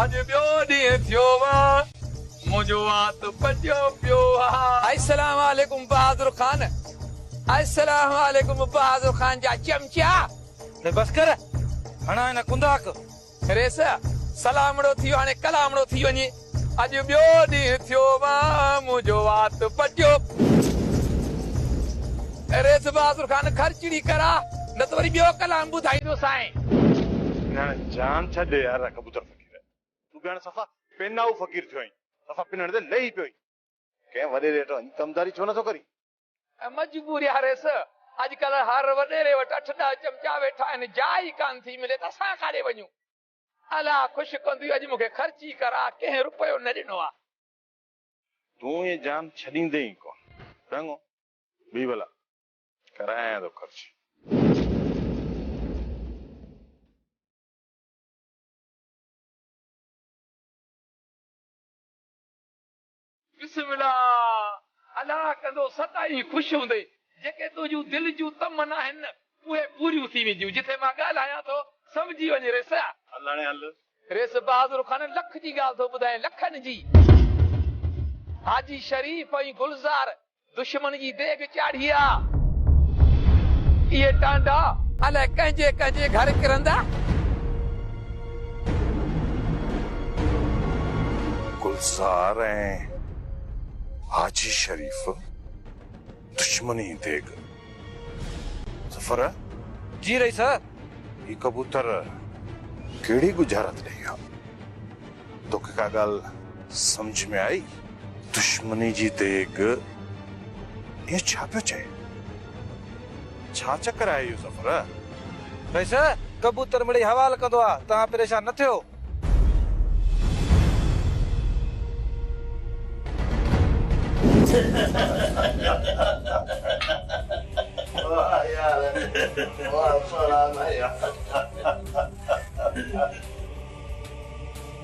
اڄ ٻيو ڏينهن ٿيو وا منهنجو وات پڄيو پيو وا. السلام عليڪم بهادر خان. السلام عليڪم بهادر خان جا چمچا. ري بس ڪر هڻان هن ڪنڌاڪ. ريس سلامڙو ٿي هاڻي ڪلامڙو ٿي وڃي. اڄ ٻيو ڏينهن ٿيو وا منهنجو وات پڄيو. ريس بهادر خان خرچڙي ڪرا. نه ته وري ٻيو ڪلام ٻڌائيندو سائين. ڀيڻ جان ڇڏ يار ڪبوتر فقير تون ڀيڻ صفا پينائو فقير ٿيو آهين صفا پنڻ تي لهي پيو آهين ڪنهن وڏيري وٽ وڃي ڪمداري ڇو نٿو ڪرين. مجبوري آهي ريس اڄڪلهه هر وڏيري وٽ اٺ ڏهه چمچا ويٺا آهن جاء ئي ڪانه ٿي ملي ته اسان ڪاڏي وڃون الا خوش ڪنديون اڄ مونکي خرچي ڪرا ڪنهن رپيو نه ڏنو آ. تون ائين جان ڇڏيندين ئي ڪونه ڏنگو بي بلا ڪرايان ٿو خرچ. بسم الله الله ڪندو سدائين خوش هوندي جيڪي تنهنجون دل جون تمن آهن نه اهي پوريون ٿي وينديون جٿي مان ڳالهايان ٿو سمجهي وڃ ريس. الاڻي هل. ريس بهادر خان لک جي ڳالهه ٿو ٻڌائين لکن جي حاجي شريف ۽ گلزار دشمن جي ديڳ چاڙهي آ. اهي ٽانڊا الائي ڪنهن جي ڪنهن جي گهر ڪرندا. گلزار ۽ حاجي شريف دشمن جي ديڳ. ظفر! جي رئيس! هي ڪبوتر ڪهڙي ڳجهارت ڏئي ويا. توکي ڪا ڳالهه سمجهه ۾ آئي؟ دشمني جي ديڳ اهو ڇا پيو چئي؟ ڇا چڪر آهي اهو ظفر؟ بس ڪبوتر مڙئي حوال ڪندو آ توهان پريشان نه ٿيو.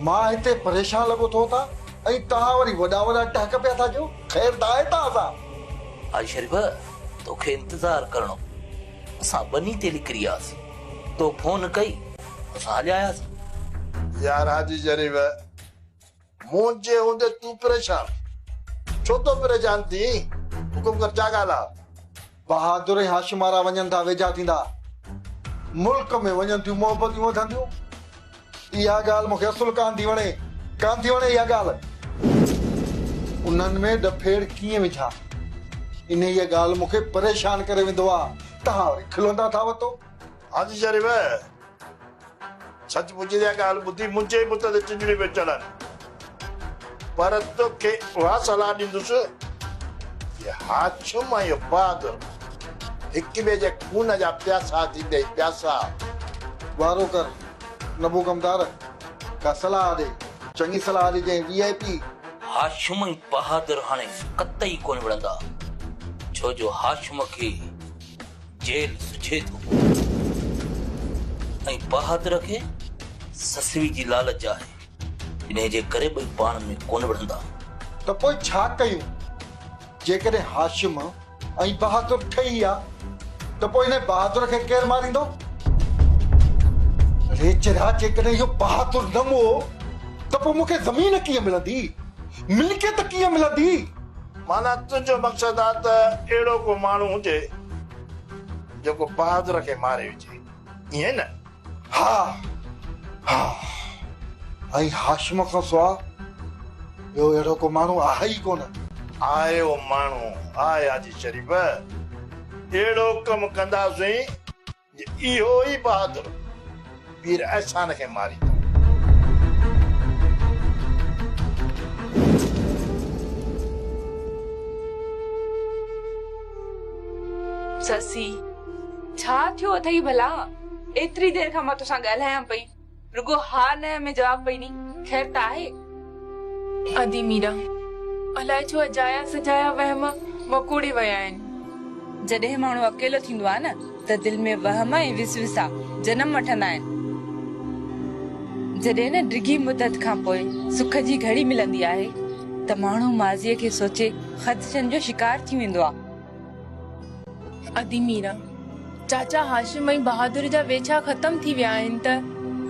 مان هتي پريشان لڳو ٿو ٿا ۽ توهان وري وڏا وڏا ٽهڪ پيا ٿا ڏيو، خير ته آهي توهان سان؟ هاء شريف، توکي انتظار ڪرڻو پيو، اسان ٻني تي لڪري آياسين، تو فون ڪئي، اسان هليا آياسين. يار حاجي شريف! مون جي هوندي تون پريشان ڇو ٿو پريشان ٿين حڪم ڪر ڇا ڳالهه آ. بهادر ۽ هاشم وارا وڃن ٿا ويجها ٿيندا ملڪ ۾ وڃن ٿيون محبتون وڌنديون اها ڳالهه مون کي اصل ڪانه ٿي وڻي ڪانه ٿي وڻي اها ڳالهه. انهن ۾ ڏڦيڙ ڪيئن وجهان انهيء ڳالهه مون کي پريشان ڪري ويندو آ تهان وري کلندا ٿا وتو. حاجي شريف. سچ پچ اها ڳالهه ٻڌي منهنجي بت تي چنجڙيون پيون چڙهن، پر توکي اها صلاح ڏيندس ته هاشم ۽ عباد هڪ ٻئي جي خون جا پياسا ٿيندي هي پياسا. گوارو ڪر نبو ڪمدار ڪا صلاح ڏي. چڱي صلاح ڏجئين V I P. Hashim ۽ Bahadur هاڻي قطعي ڪونه وڙهندا، ڇو جو هاشم کي. جيل سجهي ٿو پوي ۽ بهادر کي سسئي جي لالچ آهي، انهيء جي ڪري ٻئي پاڻ ۾ ڪونه وڙهندا. ته پوء ڇا ڪيون؟ جيڪڏهن هاشم ۽ بهادر ٺهي ويا ته پوء انهيء بهادر کي ڪير ماريندو؟ ريچرا جيڪڏهن اهو بهادر نه مئو ته پوء مون کي زمين ڪيئن ملندي؟ ملڪيت ڪيئن ملندي؟ معنيٰ تنهنجو مقصد آ ته اهڙو ڪو ماڻهو هجي جيڪو بهادر کي ماري وجهي ائين نه؟ ها ها ۽ هاشم کان سواء ٻيو اهڙو ڪو ماڻهو آهي ئي ڪونه. آء اهو ماڻهو آء حاجي شريف اهڙو ڪم ڪنداسين. اهو ئي بهادر پير احسان کي ماريندو. سسي! ڇا ٿيو اٿئي ڀلا؟ ايتري دير کان مان توسان ڳالهايان پئي. رڳو ها نه ۾ جواب پئي ڏي. خير ته آهي؟ ادي ميرا، الائي ڇو اجايا سجايا وهم وڪوڙي ويا آهن. جڏهن ماڻهو اڪيلو ٿيندو آهي نه ته دل ۾ وهم ۽ وسوسا جنم وٺندا آهن. جڏهن نه ڊگهي مدت کان پوء سک جي گهڙي ملندي آهي ته ماڻهو ماضيء کي سوچي خدشن جو شڪار ٿي ويندو آهي. ادي ميرا، چاچا هاشم ۽ بهادر جا ويڇا ختم ٿي ويا آهن ته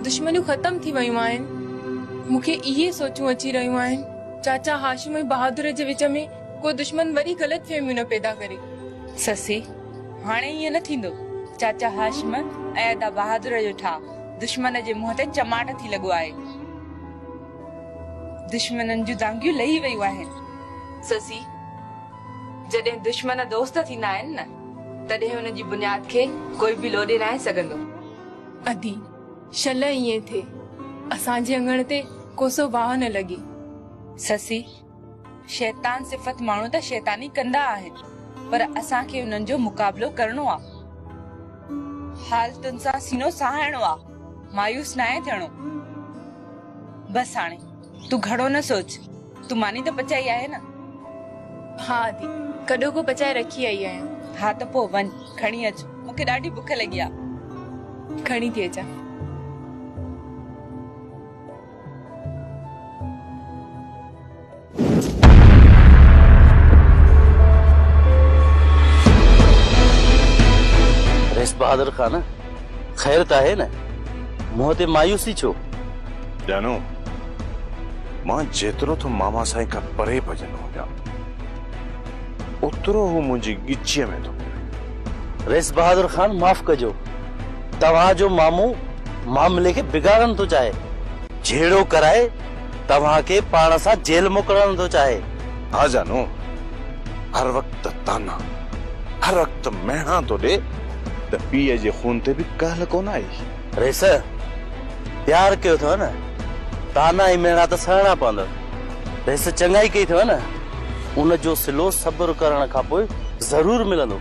دشمنيون ختم ٿي ويون آهن. مون کي اهي سوچون اچي رهيون آهن، چاچا هاشم ۽ بهادر جي وچ ۾ ڪو دشمن وري غلط فهميون نه پيدا ڪري. سسي، هاڻي ائين نه ٿيندو. چاچا هاشم ۽ ادا بهادر جو ٺاهه دشمن جي منهن تي چماٽ ٿي لڳو آهي. دشمنن جون دانگيون لهي ويون آهن. سسي، جڏهن دشمن دوست ٿيندا آهن نه تڏهن ان جي بنياد کي ڪوئي به لوڏي ناهي سگهندو. ادي، شل ائين ٿئي، اسان جي اڱڻ تي ڪوسو باهه نه لڳي. سسي، شيطان صفت ماڻهو ته شيطاني ڪندا آهن پر اسان کي انهن جو مقابلو ڪرڻو آ. حال تن سان سينو سهائڻو آ، مايوس ناهي ٿيڻو. بس هاڻي تون گهڻو نه سوچ، تون ماني ته پچائي آهي نه؟ ها ادي، ڪڏهو ڪو پچائي رکي آئي آهيان. ها ته پوء وڃ، کڻي اچ، مون کي ڏاڍي بک لڳي آهي. کڻي ٿي اچان. رئيس بهادر خان! خير ته آهي نه؟ منهن تي مايوسي ڇو؟ ڄاڻو، مان جيترو ٿو ماما سائين کان پري ڀڄندو وڃان، اوترو هو منهنجي ڳچيء ۾ ٿو پوي. رئيس بهادر خان معاف ڪجو، توهان جو مامو معاملي کي بگاڙڻ ٿو چاهي، جهيڙو ڪرائي توهان کي پاڻ سان جيل موڪلڻ ٿو چاهي. ها جانو، هر وقت طعنا، هر وقت مهڻا ٿو ڏي. ته پيء جي خون تي به ڪهل ڪونه آئي. ريس! پيار ڪيو اٿئو نه، طعنا ۽ ميڻا ته سهڻا پوندڙ. ريس! چڱائي ڪئي اٿئو نه، ان جو صلو صبر ڪرڻ کان پوء ضرور ملندو.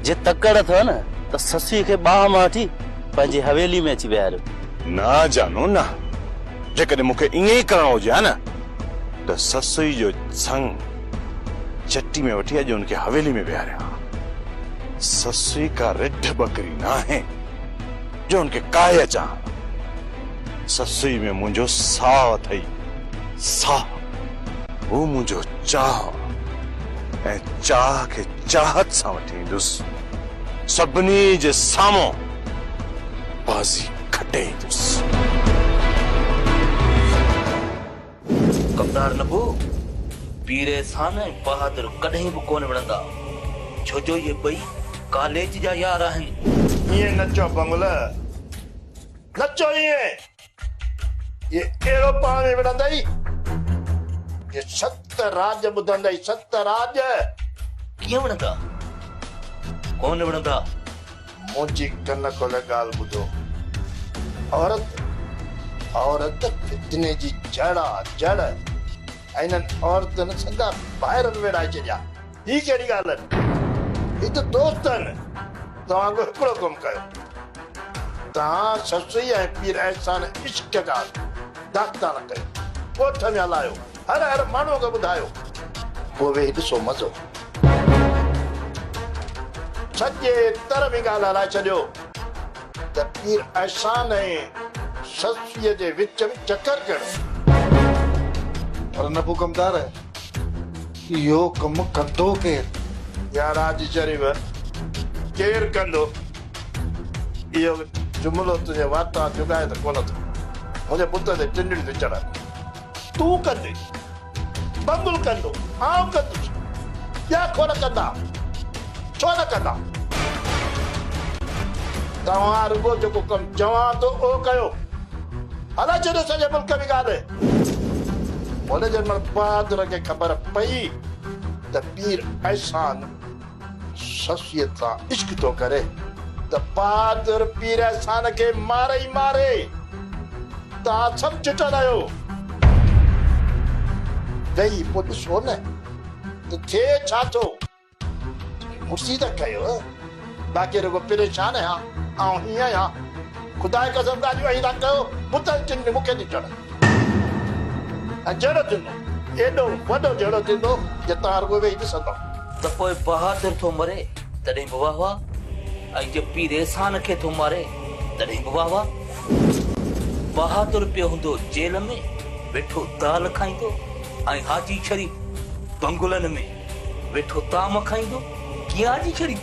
جي تڪڙ اٿئو نه ته سسئي کي ٻانهن مان وٺي پنهنجي حويلي ۾ اچي ويهاريو. نه جانو نه، جيڪڏهن مون کي ائين ئي ڪرڻو هجي ها نه ته سسئي جو سڱ چٽي ۾ وٺي اڄ ان کي حويلي ۾ ويهاريان ها. سسئي ڪا رڍ ٻڪري ناهي جو ان کي ڪاهي اچان ها. سسئي ۾ منهنجو ساهه اٿئي، ساهه. هو منهنجو چاهه آ ۽ چاهه کي چاهت سان وٺي ايندس. سڀني جي سامهون بازي کٽي ايندس. ڪمدار نبو، پير احسان ۽ بهادر ڪڏهن به ڪونه وڙهندا، ڇو جو اهي ٻئي ڪاليج جا يار آهن. ائين نه چئو بنگل، نه چئو ائين، اهي اهڙو پاڻ ۾ وڙهندئي جو ست راڄ ٻڌندئي، ست راڄ! ڪيئن وڙهندا، ڪونه وڙهندا، منهنجي ڪن کولي ڳالهه ٻڌو. عورت عورت فتني جي جڙ آ جڙ. انهن عورتن سنگا ڀائر به ويڙهائي ڇڏيا. هي ڪهڙي ڳالهه آهن. هي ته دوست آهن. توهان به هڪڙو ڪم ڪيو. توهان سسئي ۽ پير احسان عشق جا داستان ڪيو. ڳوٺ ۾ هلايو. هر هر ماڻهوء کي ٻڌايو. پوء ويهي ڏسو مزو. سڄي تر ۾ ڳالهه هلائي ڇڏيو ته پير احسان ۽ صدفيء جي وچ ۾ چڪر ڪهڙو؟ پر نبو ڪمدار، اهو ڪم ڪندو ڪير؟ يا راضي شريف، ڪير ڪندو؟ اهو جملو تنهنجي واتان جڳائي ته ڪونه ٿو منهنجي بت تي ٽنڊڙي ٿي چڙهن. تون ڪندين، بنگل ڪندو، آئون ڪندس، ٻيا کور ڪندا ڇو نه ڪندا؟ توهان رڳو جيڪو ڪم چوان ٿو اهو ڪيو. هلائي ڇڏيو سڄي ملڪ ۾ ڳالهه. هن جي مڙهه بهادر کي خبر پئي ته پير احسان شخصيت سان عشق ٿو ڪري ته بهادر پير احسان کي مار ئي ماري. توهان سڀ چٽل آهيو. ويهي پوء ڏسو نه ته ٿئي ڇا ٿو. مڙسي ته ڪيو باقي رڳو پريشان آهيان. آئون هيئن آهيان. خدا جي قسم ڳالهيون ائين ٿا ڪيو بتن جن جو مون کي ڏٺل. ۽ جهڙو ٿيندو، ايڏو وڏو جهڙو ٿيندو جو توهان رڳو ويهي ڏسندؤ. ته پوء بهادر ٿو مري، تڏهن به واه واه، ۽ جو پير احسان کي ٿو ماري، تڏهن به واه واه. بهادر پيو هوندو جيل ۾ ويٺو دال کائيندو، ۽ حاجي شريف بنگلن ۾ ويٺو طعام کائيندو، ڪيئن حاجي شريف؟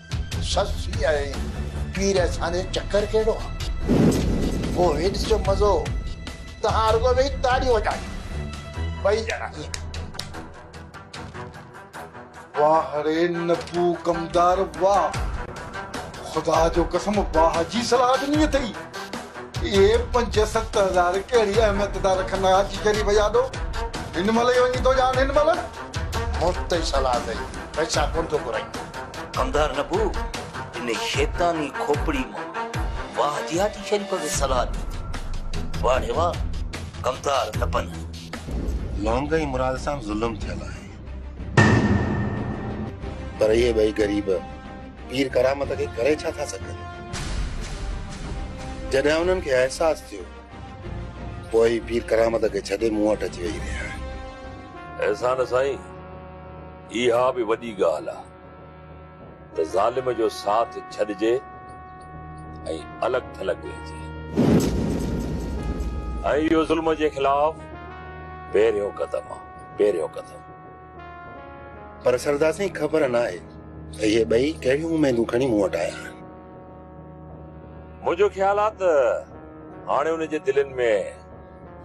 سسي ۽ پير اسان جو چڪر ڪهڙو آ. پوء هيڏي جو مزو. توهان رڳو ويهي تاڙيون وڄايو. ٻئي ڄڻا ائين. واهه ري نبو ڪمدار واهه. خدا جو قسم واهه جي صلاح ڏني اٿئي. اهي پنج ست هزار ڪهڙي اهميت ٿا رکن حاجي شريف جاڏو. هن مهل ئي وڃي ٿو ڄاڻ هن مهل. مفت جي صلاح اٿئي، پئسا ڪونه ٿو گهرائين. ڪنڌار نبو ان شيطاني کوپڙي مان واهه جهاتي شريف کي صلاح ڏئي ٿي. واڙي واهه ڪنڌار نبن. لونگ ۽ مراد سان ظلم ٿيل آهي. پر اهي ٻئي غريب پير ڪرامت کي ڪري ڇا ٿا سگهن؟ جڏهن انهن کي احساس ٿيو. پوء هي پير ڪرامت کي ڇڏي مون وٽ اچي ويهي رهيا آهن. احسان سائين اها به وڏي ڳالهه آ ته ظالم جو ساٿ ڇڏجي ۽ الڳ ٿلڳ رهجي ۽ اهو ظلم جي خلاف پهريون قدم آ پهريون قدم. پر سردار سائين خبر ناهي ته اهي ٻئي ڪهڙيون اميدون کڻي مون وٽ آيا آهن. منهنجو خيال آ ته هاڻي انهن جي دلين ۾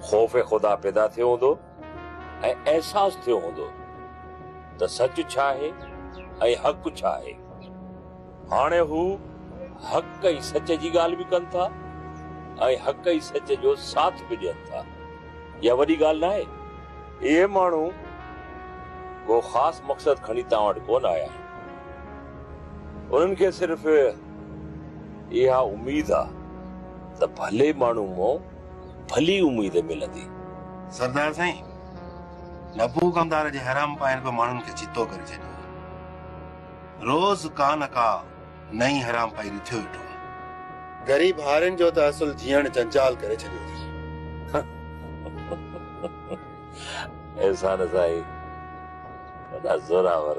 خوف خدا پيدا ٿيو هوندو ۽ احساس ٿيو هوندو ته سچ ڇا آهي ۽ حق ڇا آهي. هاڻي هو حق ۽ سچ جي ڳالهه به ڪن ٿا ۽ حق ۽ سچ جو ساٿ به ڏين ٿا. اها وڏي ڳالهه ناهي. اهي ماڻهو ڪو خاص مقصد کڻي توهان وٽ ڪونه آيا آهن. انهن کي صرف اها اميد آ ته ڀلي ماڻهو مون ڀلي اميد ملندي. سردار سائين نبو ڪمدار جي حرام پائن پيو ماڻهن کي چتو ڪري ڇڏيو آ. روز ڪا نه ڪا نئين حرام پائي رٿيو ويٺو آ. غريب هارين جو ته اصل جيئڻ جنجال ڪري ڇڏيو اٿن. احسان سائين وڏا زورآور.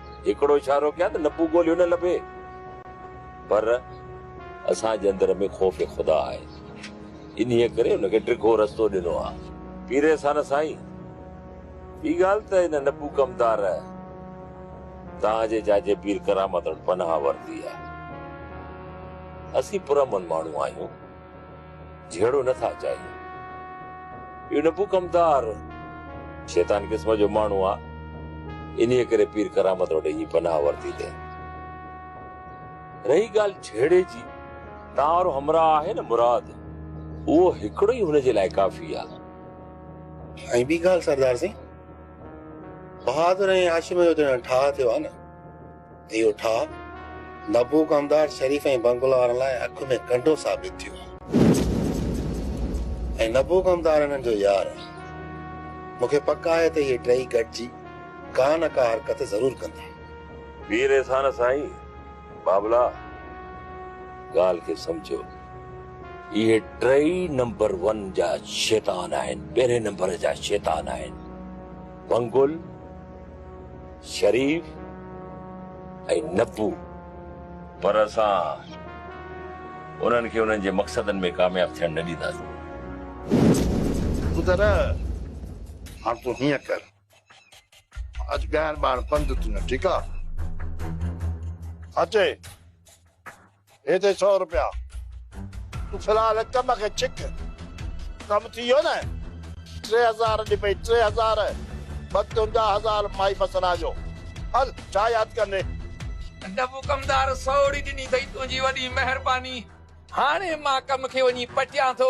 هڪڙو اشارو ڪيان ته نپو ڳوليو نه لڀي پر اسان جي اندر ۾ خوف خدا آهي انهي ڪري ان کي ڊگهو رستو ڏنو آهي. پيري سان سائين ٻي ڳالهه ته ان نپو ڪمدار توهان جي چاچي پير ڪرامت وٽ پناهه ورتي آهي اسين پرامن ماڻهو آهيون. جهيڙو نه ٿا چاهيون. اهو نپوڪمدار شيطان قسم جو ماڻهو آ، انهيء ڪري پير ڪرامت وٽ اڃي پناهه ورتي تئين. رهي ڳالهه جهيڙي جي، تان وارو همراهه آهي نه مراد، اهو هڪڙو ئي هن جي لاء ڪافي آ. ۽ ٻي ڳالهه سردار سائين، بهادر ۽ هاشم جو ته هاڻي ٺاهه ٿيو آ نه. اهو ٺاهه نبو ڪمدار شريف ۽ بنگلا وارن لاء اک ۾ ڪنڊو ثابت ٿيو هو ۽ نبو ڪمدار انهن جو يار هو. مون کي پڪ آهي ته اهي ٽيئي گڏجي ڪا نه ڪا حرڪت ضرور ڪندا. پير احسان سائين بابلا ڳالهه کي سمجهيو. اهي ٽيئي نمبر ون جا شيطان آهن، پهرين نمبر جا شيطان آهن. بنگل شريف ۽ نبو پر اسان انهن کي انهن جي مقصدن ۾ ڪامياب ٿيڻ نه ڏينداسين. پتر هاڻ تون هيئن ڪر اڄ ڳائڻ ٻائڻ بند تنهنجو ٺيڪ آ. اچي. هي ٿئي سؤ روپيا. تون في الحال ڪم کي ڇڪ. ڪم ٿي ويو نه؟ ٽي هزار ڏي پئي، ٽي هزار! ٻه تنهنجا هزار مائي بسنا جو. هل، ڇا ياد ڪندين؟ ڊبو ڪمدار سوڙي ڏني اٿئي، تنهنجي وڏي مهرباني. هاڻي مان ڪم کي وڃي پٽيان ٿو.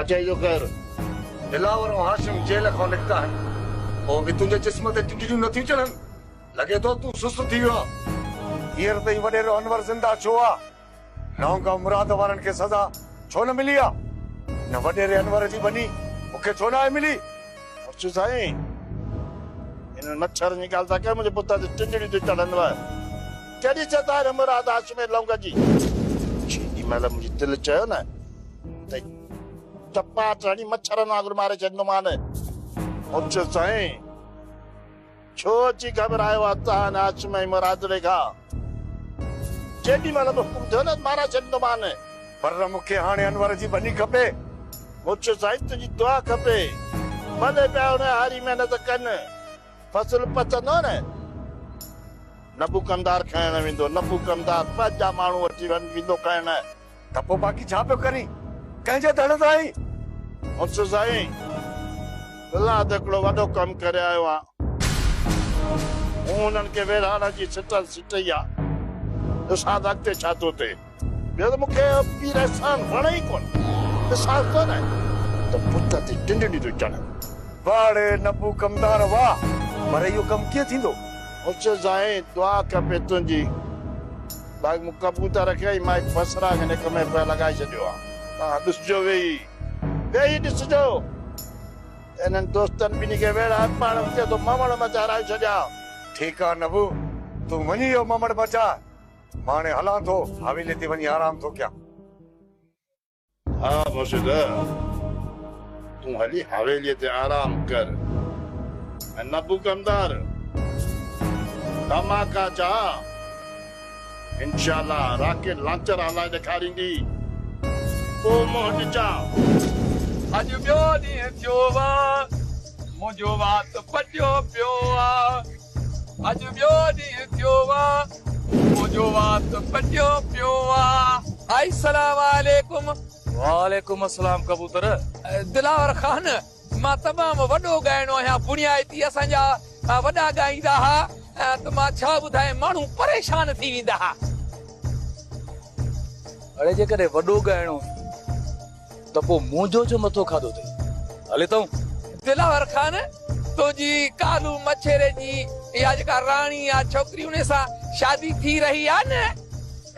اچي جو ڪر. دلاور ۽ هاشم جيل کان نڪتا آهن. پوء به تنهنجي جسم تي ٽڊيون نٿيون چڙهن؟ لڳي ٿو تون سست ٿي ويو آهين. هينئر تائين وڏيرو انور زنده ڇو آ؟ نهونگا مراد وارن کي سزا ڇو نه ملي آ؟ ان وڏيري انور جي ٻني مون کي ڇو ناهي ملي؟ مرچو سائين، انهن مڇرن جي ڳالهه ٿا ڪيو، منهنجي پٽ تي ٽڊيون ٿيون چڙهن ويا. ڪهڙي چيتا آهي موراد هاشم ۽ لونگ جي؟ جيڏي مهل منهنجي دل چيو نه. ته ٽپا هٿ هڻي مڇرن وانگر ماري ڇڏيندومان. اچ سائين، ڇو اچي گهٻرايو عطان، هاشم ۽ مرادڙي کان؟ جيڏي مهل به حڪم ٿيو نه مارائي ڇڏيندومان. پر مون کي هاڻي انور جي ٻني کپي. اچ سائين، تنهنجي دعا کپي. ڀلي پيا ان هاري محنت ڪن، فصل پچندو نه. نبو ڪمدار کڻڻ ويندو، نبو ڪمدار ٻه جا ماڻهو وٺي ويندو کڻڻ. ته پوء باقي ڇا پيو ڪرين؟ ڪنهن جي ڌڙ تان آئين؟ مڙس سائين، فلحال ته هڪڙو وڏو ڪم ڪري آيو آهيان. مون هنن کي ويڙهاڙن جي سٽل سٽئي آ. ڏسان ته اڳتي ڇا ٿو ٿئي. ٻيو ته مون کي پير احسان وڻي ئي ڪونه. احساس ڪو نه آهي ته بت تي ٽنڊڙي ٿو چڙهان. واهه ڙي نبو ڪمدار واهه. پر اهو ڪم ڪيئن ٿيندو؟ مڙس سائين، دعا کپي تنهنجي. باغ مون ڪبوتر رکيا آهن، مان هڪ بصراغ هن هڪ ۾ پيو لڳائي ڇڏيو آهي. توهان ڏسجو ويهي، ويهي ڏسجو ته هنن دوستن ٻنهي کي ويڙهه هر پاڙ ۾ ڪيو ٿو ممڙ مچ هرائي ڇڏيان. ٺيڪ آهي نبو، تون وڃي اهو ممڙ مچاء، مان هاڻي هلان ٿو، حويلي تي وڃي آرام ٿو ڪيان. ها مرشده! تون هلي حويليء تي آرام ڪر ۽ نه پو ڪمدار، نه مان ڪا چاهه، انشاء الله راکي لانچر هلائي ڏيکاريندي، پوء مون وٽ چاهه. اڄ ٻيو ڏينهن ٿيو آ، منهنجو وات پٽيو پيو آ. اڄ ٻيو ڏينهن ٿيو آ منهنجو وات ڪٽيو پيو آ آئي سلام عليڪم. وعليڪم السلام ڪبوتر. دلاور خان مان تمام وڏو ڳائڻو آهيان بڻيائتي اسان جا وڏا ڳائيندا ها ته مان ڇا ٻڌايان ماڻهو پريشان ٿي ويندا ها. اڙي جيڪڏهن وڏو ڳائڻو هي. ته پوء منهنجو ڇو مٿو کاڌو اٿئي؟ هل اتئون! دلاور خان! تنهنجي ڪالو مڇيري جي اها جيڪا راڻي آ ڇوڪري انهي سان شادي ٿي رهي آ نه؟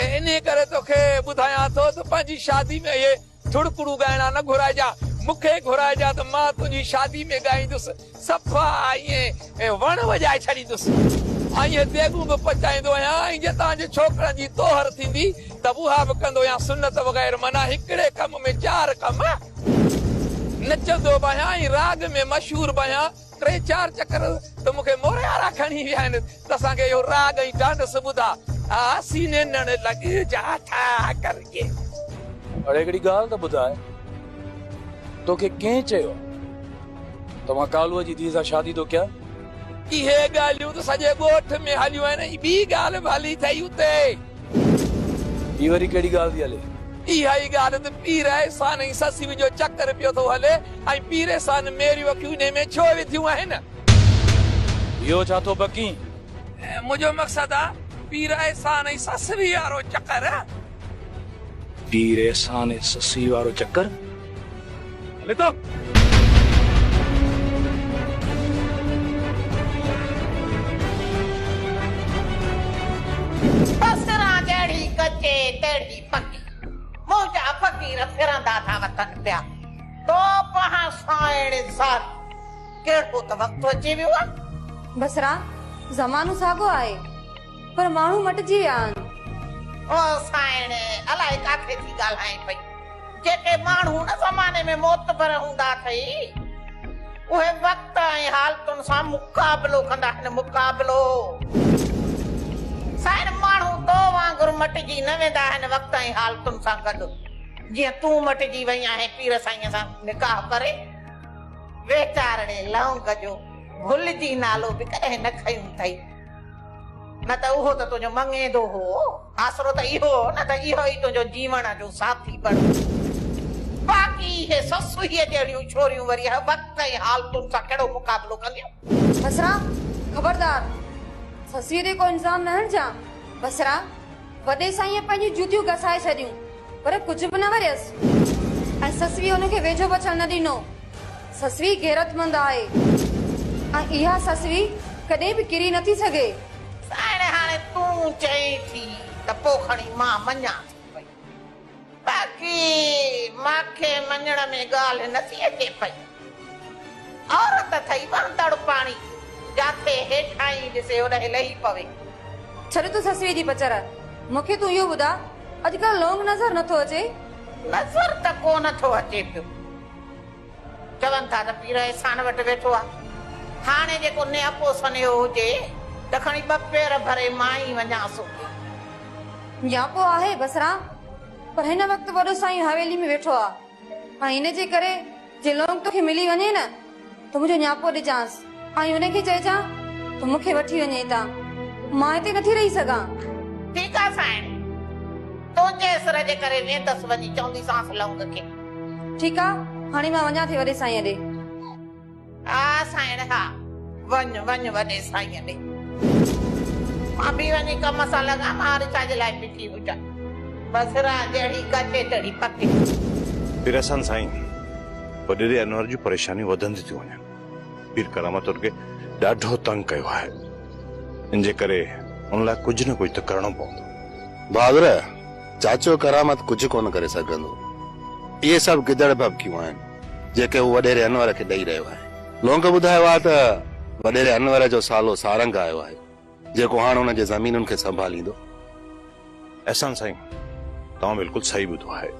انهي ڪري توکي ٻڌايان ٿو ته پنهنجي شادي ۾ اهي ٿڙڪڙو ڳائڻا نه گهرائجان. مون کي گهرائجان ته مان تنهنجي شادي ۾ ڳائيندس. صفا آئين وڻ وڄائي ڇڏيندس. آئين ديڳون به پچائيندو آهيان ۽ جي توهان جي ڇوڪرن جي طوهر ٿيندي ته اها به ڪندو آهيان سنت وغير معنيٰ هڪڙي ڪم ۾ چار ڪم. نچندو به آهيان ۽ راڳ ۾ مشهور به آهيان ٽي چار چڪر ته مون کي موريارا کڻي ويا آهن. اسان کي اهو راڳ ۽ ڍانڍس ٻڌاء. آء سيني نڙ لڳي جا ٺاء ڪرجي. اڙي هڪڙي ڳالهه ته ٻڌاء توکي ڪنهن چيو ته مان ڪالوء جي ڌيء سان شادي ٿو ڪيان؟ اهي ڳالهيون ته سڄي ڳوٺ ۾ هليون آهن ۽ ٻي ڳالهه به هلي ٿئي اتي. هي وري ڪهڙي ڳالهه ٿي هلي؟ اها ئي ڳالهه ته پيريسان ۽ سسيء جو چڪر پيو ٿو هلي ۽ پيريسان ميريون اکيون انهي ۾ ڇو وڌيون آهن؟ اهو ڇا ٿو بڪين؟ منهنجو مقصد آ پير احسان ۽ سسئي وارو چڪر. پير احسان ۽ سسئي وارو چڪر هلي ٿو. بصرا جهڙي ڪچي تهڙي پڪي. منهنجا فقير ڦرندا ٿا وتن پيا. تو پهان سائڻ ذات. ڪير ڪو ته وقت اچي ويو آ. بصرا، زمانو ساڳو آهي، پر ماڻهو مٽجي ويا آهن. او سائڻ، الاء ڪاٿي ٿي ڳالهائين پئي. جيڪي ماڻهو ان زماني ۾ معتبر هوندا اٿئي، اهي وقت ۽ حالتن سان مقابلو ڪندا آهن، مقابلو. سائڻ، ماڻهو تو وانگر مٽجي نه ويندا آهن وقت ۽ حالتن سان گڏ، جيئن تون مٽجي وئين آهين پير سائينء سان نڪاح ڪري. ويچارڙي لونگ جو گل جي نالو به ڪڏهن نه کنيو اٿئي، نه ته اهو ته تنهنجو مڱيندو هو، آسرو ته اهو هو نه ته اهو ئي تنهنجو جيوڻ جو ساٿي بڻيو. باقي اهي سسئي جهڙيون ڇوريون وري هه وقت ۽ حالتن سان ڪهڙو مقابلو ڪنديون؟ بصرا، خبردار! سسئي تي ڪو الزام نه هڻجان، بصرا! وڏي سائينء پنهنجون جوتيون گسائي ڇڏيون، پر ڪجهه به نه وريس ۽ سسويء هن کي ويجهو به اچڻ نه ڏنو. سسوي غيرتمند آهي ۽ اها سسوي ڪڏهن به ڪري نه ٿي سگهي. سائڻ هاڻي تون چئين ٿي ته پوء کڻي مان مڃان ٿي پئي. باقي مان کي مڃڻ ۾ ڳالهه نٿي اچي پئي. عورت اٿئي وهندڙ پاڻي، جاتي هيٺاهين ڏسي هوڏهين لهي پوي. ڇڏ تون سسئي جي پچر، مون کي تون اهو ٻڌاء، اڄڪلهه لونگ نظر نٿو اچي؟ نظر ته ڪونه ٿو اچي پيو. چون ٿا ته پير احسان وٽ ويٺو آ. هاڻي جيڪو نياپو سنيهو هجي ته کڻي ٻه پير ڀري مان ئي وڃان سوڪي. نياپو آهي بصرا پر هن وقت وڏو سائين حويلي ۾ ويٺو آ ۽ ان جي ڪري جي لونگ توکي ملي وڃي نه ته منهنجو نياپو ڏجانس. ۽ هن کي چئجان ته مون کي وٺي وڃي هتان، مان هتي نٿي رهي سگهان. ٺيڪ آ سائڻ، تنهنجي اسر جي ڪري ويندس، وڃي چونديسانس لونگ کي. ٺيڪ آ، هاڻي مان وڃان ٿي وڏي سائينء ڏي. ها سائڻ ها، وڃ وڃ وڏي سائينء ڏي. مان به وڃي ڪم سان لڳان، مان رچا جي لاء بيٺي هجان. بصرا جهڙي ڪچي تهڙي پڪي. پير احسان سائين، وڏيري انور جون پريشانيون وڌنديون ٿيون وڃن. پير ڪرامت ان کي ڏاڍو تنگ ڪيو آهي. ان جي ڪري ان لاء ڪجهه نه ڪجهه ته ڪرڻو پوندو. بهادر، چاچو ڪرامت ڪجهه ڪونه ڪري سگهندو. اهي سڀ گدڙ ڀڀڪيون آهن، جيڪي هو وڏيري انور کي ڏئي رهيو آهي. لونگ ٻڌايو آهي ته وڏيري انور جو سالو سارنگ آيو آهي. جيڪو هاڻ ان جي زمينن کي سنڀاليندو. احسان سائين توهان بلڪل صحيح ٻڌو آهي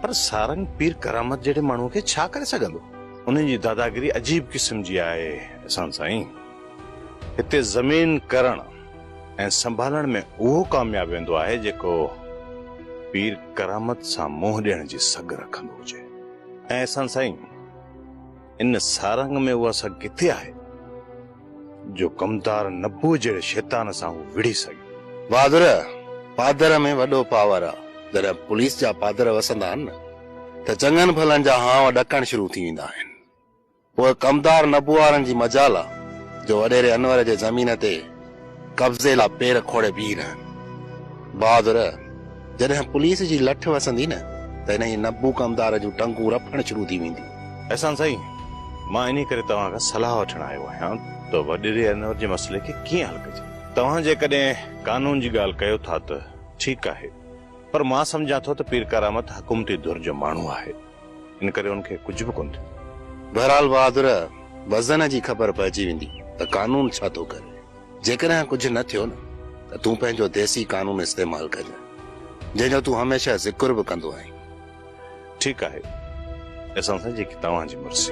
پر سارنگ پير ڪرامت جهڙي ماڻهو کي ڇا ڪري سگهندو. انهن جي داداگيري عجيب قسم جي آهي احسان سائين هتي زمين ڪرڻ ۽ سنڀالڻ ۾ اهو ڪامياب ويندو آهي جيڪو پير ڪرامت سان منهن ڏيڻ جي سگهه رکندو هجي. ۽ احسان سائين ان سارنگ ۾ اها سگهه ڪٿي آهي. جو ڪمتار نبوء جهڙي شيطان سان هو وڙهي سگهي. بهادر، پادر ۾ وڏو پاور آ. جڏهن پوليس جا پادر وسندا آهن نه ته چڱن ڀلن جا هانء ڏڪڻ شروع ٿي ويندا آهن. پوء ڪمتار نبوء وارن جي مجال آ جو وڏيري انور جي زمين تي قبضي لا پير کوڙي بيهي رهن. بهادر! جڏهن پوليس جي لٺ وسندي نه ته انهيء نبو ڪمدار جون ٽنگون رڦڻ شروع ٿي وينديون. احسان سائين! مان انهيء ڪري توهان کان صلاح وٺڻ آيو آهيان ته وڏيري انور جي مسئلي کي ڪيئن حل ڪجي. توهان جيڪڏهن قانون جي ڳالهه ڪيو ٿا ته ٺيڪ آهي، پر مان سمجهان ٿو ته پيرڪارامت حڪومتي ڌر جو ماڻهو آهي. ان ڪري ان کي ڪجهه به ڪونه ٿيو. بهرحال بهادر، وزن جي خبر پئجي ويندي ته قانون ڇا ٿو ڪري. جيڪڏهن ڪجهه نه ٿيو نه ته تون پنهنجو ديسي قانون استعمال ڪجانء، جنهن جو تون هميشه ذڪر به ڪندو آهين. ٺيڪ آهي احسان سائين، جيڪي توهان جي مرضي.